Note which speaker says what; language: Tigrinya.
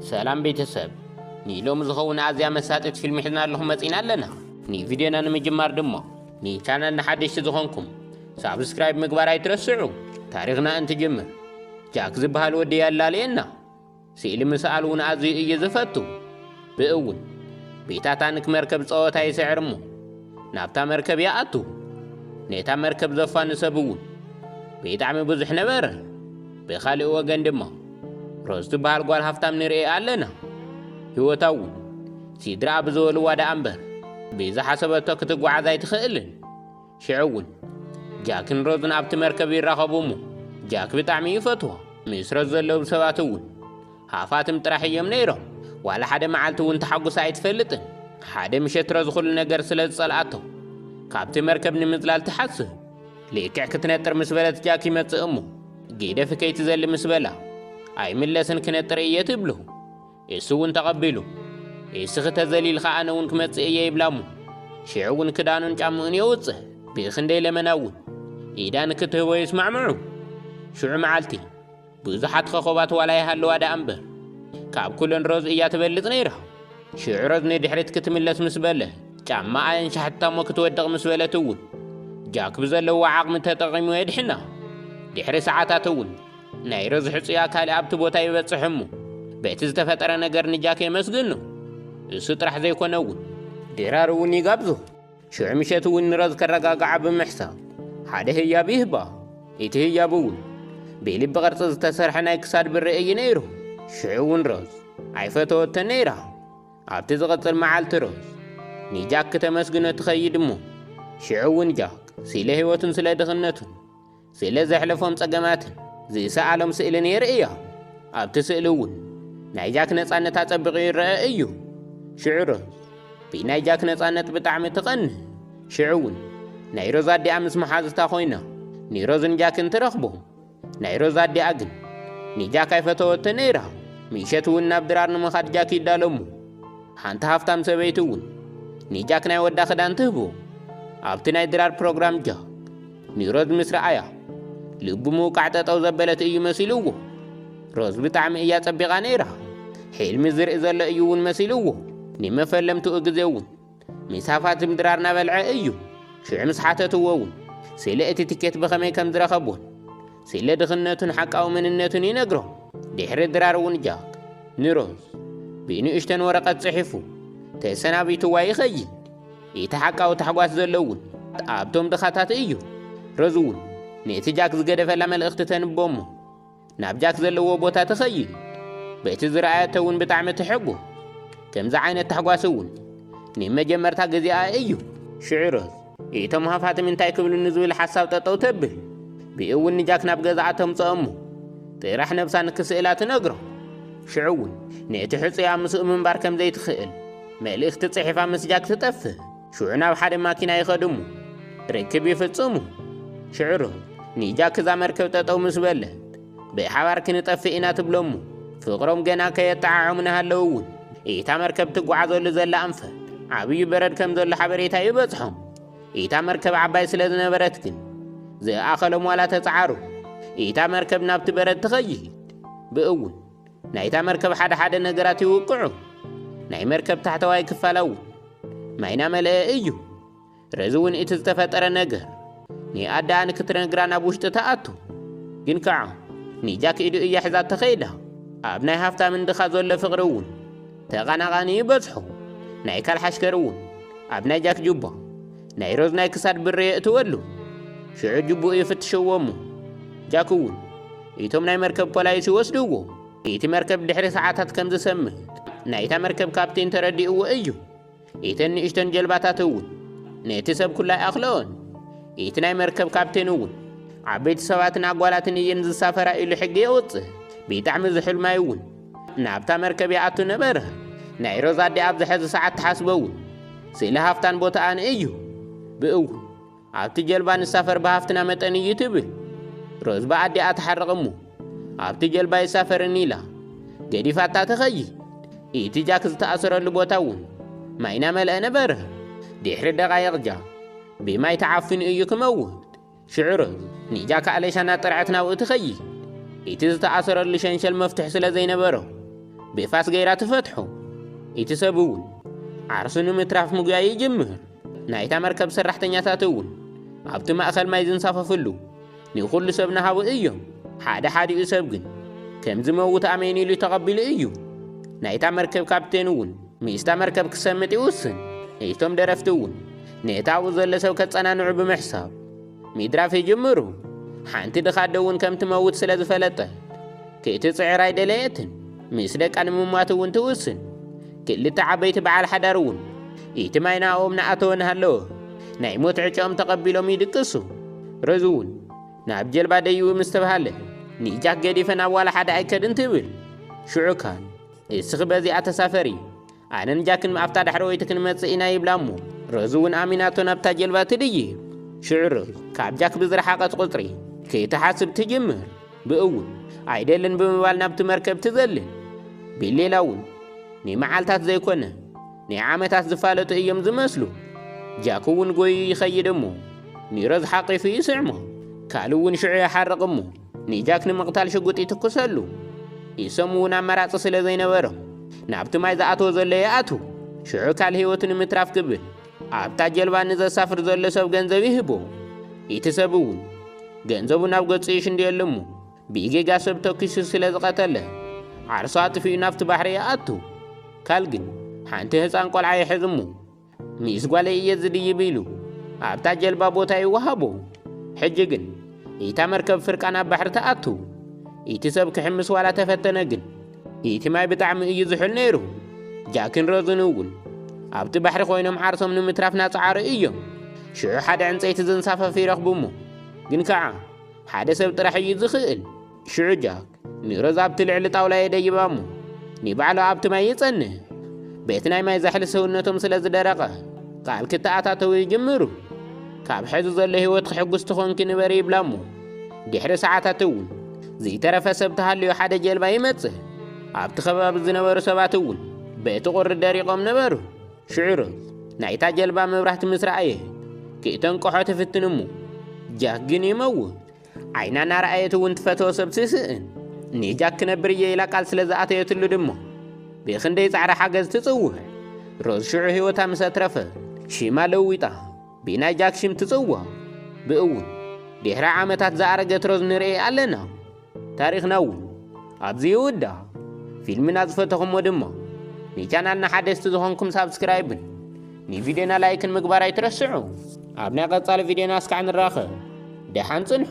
Speaker 1: ሰላም ቤተሰብ ንሎሚ ዝኸውን ኣዝያ መሳጢት ፊልም ሒዝና ኣለኹም መጺና ኣለና ንቪድዮና ንምጅማር ድሞ ንቻናልና ሓደሽቲ ዝኾንኩም ሳብስክራይብ ምግባር ኣይትረስዑ ታሪኽና እንትጅምር ጃክ ዝበሃል ወዲ ያላልየና ስእሊ ምስኣል እውን ኣዝዩ እዩ ዝፈቱ ብእውን ቤታታንክ መርከብ ጸወታ ይስዕር እሞ ናብታ መርከብ ይኣቱ ነታ መርከብ ዘፋኑ ሰብ እውን ብጣዕሚ ብዙሕ ነበረ ብኻልእ ወገን ድማ ሮዝ ትበሃል ጓል ሃፍታም ንርኤ ኣለና ህይወታ እውን ሲድራኣ ብዝበልዋ ደኣ እምበር ብዝሓሰበቶ ክትጓዓዝ ኣይትኽእልን ሽዑ እውን ጃክን ሮዝን ኣብቲ መርከብ ይራኸቡ እሞ ጃክ ብጣዕሚ እዩ ፈትዎ ምስ ሮዝ ዘለዉ ሰባት እውን ሃፋትም ጥራሕ እዮም ነይሮም ዋላ ሓደ መዓልቲ እውን ተሓጉሳ ኣይትፈልጥን ሓደ ምሸት ሮዝ ኩሉ ነገር ስለ ዝጸልኣቶ ካብቲ መርከብ ንምዝላል ትሓስብ ልክዕ ክትነጥር ምስ በለት ጃክ ይመጽእ እሞ ጊደፊ ከይትዘሊ ምስ በላ ኣይምለስን ክነጥር እየ ትብሉ እሱ እውን ተቐቢሉ እስኺ ተዘሊልካ ኣነ እውን ክመጽእ እየ ይብላ እሞ ሽዑ እውን ክዳኑን ጫምኡን የውጽእ ብእኽንደይ ለመና እውን ኢዳ ንክትህቦ ይስማዕምዑ ሽዑ መዓልቲ ብዙሓት ኸኾባት ዋላ ይሃልዋ ደኣ እምበር ካብ ኩለን ሮዝ እያ ትበልጽ ነይራ። ሽዑ ሮዝ ንድሕሪት ክትምለስ ምስ በለ ጫማ ኣየንሻሕታ እሞ ክትወድቕ ምስ በለት እውን ጃክ ብዘለዎ ዓቕሚ ተጠቒሙ የድሕና። ድሕሪ ሰዓታት እውን ናይ ሮዝ ሕጹያ ካልእ ኣብቲ ቦታ ይበጽሕ እሞ በቲ ዝተፈጠረ ነገር ንጃክ የመስግኖ። እሱ ጥራሕ ዘይኮነ እውን ድራር እውን ይጋብዞ። ሽዑ ምሸት እውን ንረዝ ከረጋግዓ ብምሕሳብ ሓደ ህያብ ይህባ። እቲ ህያብ እውን ብኢሊ ብቕርጺ ዝተሰርሐ ናይ ክሳድ ብሪ እዩ ነይሩ። ሽዑ እውን ሮዝ ኣይፈተወቶን ነይራ። ኣብቲ ዝቕጽል መዓልቲ ሮዝ ንጃክ ክተመስግኖ ትኸይድ እሞ ሽዑ እውን ጃክ ስለ ህይወቱን ስለ ድኽነቱን ስለ ዘሕለፎም ጸገማትን ዝሰኣሎም ስእልን የርእዮም። ኣብቲ ስእሊ እውን ናይ ጃክ ነጻነት ኣጸቢቑ ይረአ እዩ። ሽዑ ሮዝ ብናይ ጃክ ነጻነት ብጣዕሚ ትቐንእ። ሽዑ እውን ናይ ሮዝ ኣዲኣ ምስ መሓዙታ ኮይና ንሮዝን ጃክን ትረኽቦ። ናይ ሮዝ ኣዲኣ ግን ንጃክ ኣይፈተወቶ ነይራ። ምሸት እውን ናብ ድራር ንምኻድ ጃክ ይዳሎ እሞ ሓንቲ ሃፍታም ሰበይቲ እውን ንጃክ ናይ ወዳ ክዳን ትህቦ። ኣብቲ ናይ ድራር ፕሮግራም ጃክ ንሮዝ ምስ ረኣያ ልቡ ምውቃዕ ጠጠው ዘበለት እዩ መሲልዎ። ሮዝ ብጣዕሚ እያ ጸቢቓ ነይራ። ሕልሚ ዝርኢ ዘሎ እዩ እውን መሲልዎ። ንመፈለምትኡ ግዜ እውን ምስ ሃፋትም ድራር ናበልዐ እዩ። ሽዑ ምስ ሓተትዎ እውን ስለ እቲ ትኬት ብኸመይ ከም ዝረኸቦን ስለ ድኽነቱን ሓቃዊ መንነቱን ይነግሮም። ድሕሪ ድራር እውን ጃክ ንሮዝ ብንእሽተን ወረቐት ጽሒፉ ተሰናቢትዋ ይኸይድ። እቲ ሓቃዊ ታሕጓስ ዘሎ እውን ኣብቶም ድኻታት እዩ። ረዙ እውን ነቲ ጃክ ዝገደፈላ መልእኽቲ ተንቦ እሞ ናብ ጃክ ዘለዎ ቦታ ትኸይድ። በቲ ዝረኣየቶ እውን ብጣዕሚ ትሕጎ። ከምዚ ዓይነት ታሕጓስ እውን ንመጀመርታ ግዜኣ እዩ። ሽዑ ረዝ እቶም ሃፋትም እንታይ ክብሉ ንዝብል ሓሳብ ጠጠው ተብል። ብኡ እውን ንጃክ ናብ ገዛኣ ተምፅኦ እሞ ጥራሕ ነብሳ ንክስእላ ትነግሮ። ሽዑ እውን ነቲ ሕፁያ ምስኡ ምንባር ከም ዘይትኽእል መልእኽቲ ጽሒፋ ምስ ጃክ ትጠፍእ። ሽዑ ናብ ሓደ ማኪና ይኸዱ እሞ ርክብ ይፍጽሙ። ሽዕሩ ንጃክ እዛ መርከብ ጠጠው ምስ በለት ብሓባር ክንጠፍእ ኢና ትብሎ እሞ ፍቕሮም ገና ከየጠዓዖሙ ናሃለው እውን እታ መርከብ ትጓዓዘሉ ዘላ ኣንፈት ዓብዩ በረድ ከም ዘሎ ሓበሬታ ይበጽሖም። እታ መርከብ ዓባይ ስለ ዝነበረት ግን ዝኣኸሎም ዋላ ተጸዓሩ እታ መርከብ ናብቲ በረድ ትኸይድ ብእውን ናይታ መርከብ ሓደ ሓደ ነገራት ይውቅዑ። ናይ መርከብ ታሕተዋይ ክፋል እውን ማይ ናመልአ እዩ። ረዚ እውን እቲ ዝተፈጠረ ነገር ንኣደኣ ንክትነግራ ናብ ውሽጢ ትኣቱ። ግን ከዓ ንጃክ ኢዱ እያ ሒዛ ተኸይዳ። ኣብ ናይ ሃፍታምን ድኻ ዘሎ ፍቕሪ እውን ተቓናቓኒ ይበጽሖ። ናይ ካልሓሽከር እውን ኣብ ናይ ጃክ ጁባ ናይ ሮዝ ናይ ክሳድ ብሪ የእትወሉ ሽዑ ጅብኡ ይፍትሸዎ እሞ ጃክ እውን እቶም ናይ መርከብ ፖላይስ ይወስድዎ እቲ መርከብ ድሕሪ ሰዓታት ከም ዝሰምእ ናይታ መርከብ ካፕቴን ተረዲእዎ እዩ ኢተን ንእሽተን ጀልባታት እውን ነቲ ሰብ ኩላ ይኣኽለኦን እቲ ናይ መርከብ ካፕቴን እውን ዓበይቲ ሰባትን ኣጓላትን እየን ዝሳፈራ ኢሉ ሕጊ የውፅእ ብጣዕሚ ዝሑል ማይ እውን ናብታ መርከብ ይኣቱ ነበረ። ናይ ሮዛ ኣዴ ኣብዚ ሐዚ ሰዓት ትሓስቦ እውን ስእሊ ሃፍታን ቦታኣን እዩ። ብእው ኣብቲ ጀልባ ንሳፈር ብሃፍትና መጠን እዩ ትብል። ሮዝ ብኣዴኣ ትሓርቕ እሞ ኣብቲ ጀልባ ይሳፈርን ኢላ ገዲፋታ ትኸይድ። እቲ ጃክ ዝተኣሰረሉ ቦታ እውን ማይ ናመልአ ነበረ። ድሕሪ ደቓይቕ ጃክ ብማይ ተዓፊኑ እዩ ክመውት። ሽዑ ኒጃ ካእሌሻ ናብ ጥርዐት ናብኡ ትኸይድ። ኢቲ ዝተኣሰረሉ ሸንሸል መፍትሕ ስለ ዘይነበሮ ብፋስ ገይራ ትፈትሖ። ኢቲ ሰብ እውን ዓርሱ ንምትራፍ ምጉያይ ይጅምር። ናይታ መርከብ ሰራሕተኛታት እውን ኣብቲ ማእኸል ማይ ዝንሳፈፍሉ ንኹሉ ሰብ ንሃቡ እዮም። ሓደ ሓዲኡ ሰብ ግን ከም ዝመውት ኣሜን ኢሉ ተቐቢሉ እዩ። ናይታ መርከብ ካፕቴን እውን ምስታ መርከብ ክሰምጥ ይውስን። እቶም ደረፍቲ እውን ነቲ ኣብኡ ዘሎ ሰብ ከጸናንዑ ብምሕሳብ ሚድራፍ ይጅምሩ። ሓንቲ ድኻ ኣደ እውን ከም ትመውት ስለ ዝፈለጠት ክትጽዕር ኣይደለየትን። ምስ ደቃ ንምሟት እውን ትውስን። ክልተ ዓበይቲ በዓል ሓዳር እውን እቲ ማይ ንኣኦም ንኣተወ ንሃለወ ናይ ሞት ዕጨኦም ተቐቢሎም ይድቅሱ። ረዙ እውን ናብ ጀልባ ደይቡ ምስ ተብሃለ ንጃክ ገዲፈ ናብ ዋላ ሓደ ኣይከድን ትብል። ሽዑ ካል እስኺ በዚኣ ተሳፈሪ ኣነን ጃክን ኣብታ ዳሕረወይቲ ክንመጽእ ኢና ይብላ እሞ ረዙ እውን ኣሚናቶ ናብታ ጀልባ ትድይ ሽዕሩ ካብ ጃክ ብዝረሓቐት ቁጽሪ ክትሓስብ ትጅምር ብእውን ኣይደልን ብምባል ናብቲ መርከብ ትዘልን ቢሌላ እውን ናይ መዓልታት ዘይኮነ ናይ ዓመታት ዝፋለጡ እዮም ዝመስሉ ጃክ እውን ጎዩ ይኸይድ እሞ ኒሮዝ ሓቂፉ ይስዕሞ ካልእ እውን ሽዑ ይሓርቕ እሞ ንጃክ ንምቕታል ሽጉጥ ይትኩሰሉ። ኢሶም እውን ኣማራጺ ስለ ዘይነበሮ ናብቲ ማይ ዝኣተወ ዘሎ ይኣቱ። ሽዑ ካል ህይወቱ ንምትራፍ ክብል ኣብታ ጀልባ ንዘሳፍር ዘሎ ሰብ ገንዘብ ይህቦ። እቲ ሰብ እውን ገንዘቡ ናብ ገጹ ይሽንድየሉ እሞ ብኢጌጋ ሰብ ተኪሱ ስለ ዝቐተለ ዓርሱ ኣጥፊኡ ናብቲ ባሕሪ ይኣቱ። ካል ግን ሓንቲ ህፃን ቆልዓ ይሕዝ እሞ ምስ ጓለይ እየ ዝድይብ ኢሉ ኣብታ ጀልባ ቦታ ይወሃቦ። ሕጂ ግን ኢታ መርከብ ፍርቃ ናብ ባሕሪ ትኣቱ። ኢቲ ሰብ ክሕምስ ዋላ ተፈተነ ግን ኢቲ ማይ ብጣዕሚ እዩ ዝሑል ነይሩ። ጃክን ሮዝን እውን ኣብቲ ባሕሪ ኮይኖም ዓርሶም ንምትራፍ ናጸዓሩ እዮም። ሽዑ ሓደ ዕንጸይቲ ዘንሳፈፍ ይረኽቡ እሞ ግን ከኣ ሓደ ሰብ ጥራሕ እዩ ዝኽእል። ሽዑ ጃክ ንሮዝ ኣብቲ ልዕሊ ጣውላ የደይባ እሞ ንባዕሉ ኣብቲ ማይ ይጸንህ በቲ ናይ ማይ ዛሕሊ ሰውነቶም ስለ ዝደረቐ ቃል ክተኣታተው ይጅምሩ ካብ ሕዚ ዘሎ ህይወት ክሕጉስ ትኾንኪ ንበሪ ይብላ እሞ ድሕሪ ሰዓታት እውን ዘይተረፈ ሰብ ተሃልዮ ሓደ ጀልባ ይመጽእ ኣብቲ ከባቢ ዝነበሩ ሰባት እውን በቲ ቁሪ ደሪቖም ነበሩ ሽዑሩ ናይታ ጀልባ መብራህቲ ምስ ረኣየ ክእተንቅሖ ትፍትን እሞ ጃክ ግን ይመውት ዓይና እናረኣየት እውን ትፈተዎ ሰብ ትስእን ኔጃክ ክነብር እየ ኢላ ቃል ስለ ዝኣተየትሉ ድሞ ብኽንደይ ጻዕሪ ሓገዝ ትጽውዕ ሮዝ ሽዑ ህይወታ ምስ ኣትረፈ ሽማ ለዊጣ ብናይ ጃክ ሽም ትጽዋ ብእውን ድሕሪ ዓመታት ዝኣረገት ሮዝ ንርኢ ኣለና ታሪኽና እውን ኣብዚ ይውዳ ፊልምና ዝፈተኹሞ ድማ ንቻናልና ሓደስቲ ዝኾንኩም ሳብስክራይብን ንቪድዮና ላይክን ምግባር ኣይትረስዑ። ኣብ ናይ ቀጻሊ ቪድዮና እስካዕ ንራኸብ። ደሓን ጽንሑ።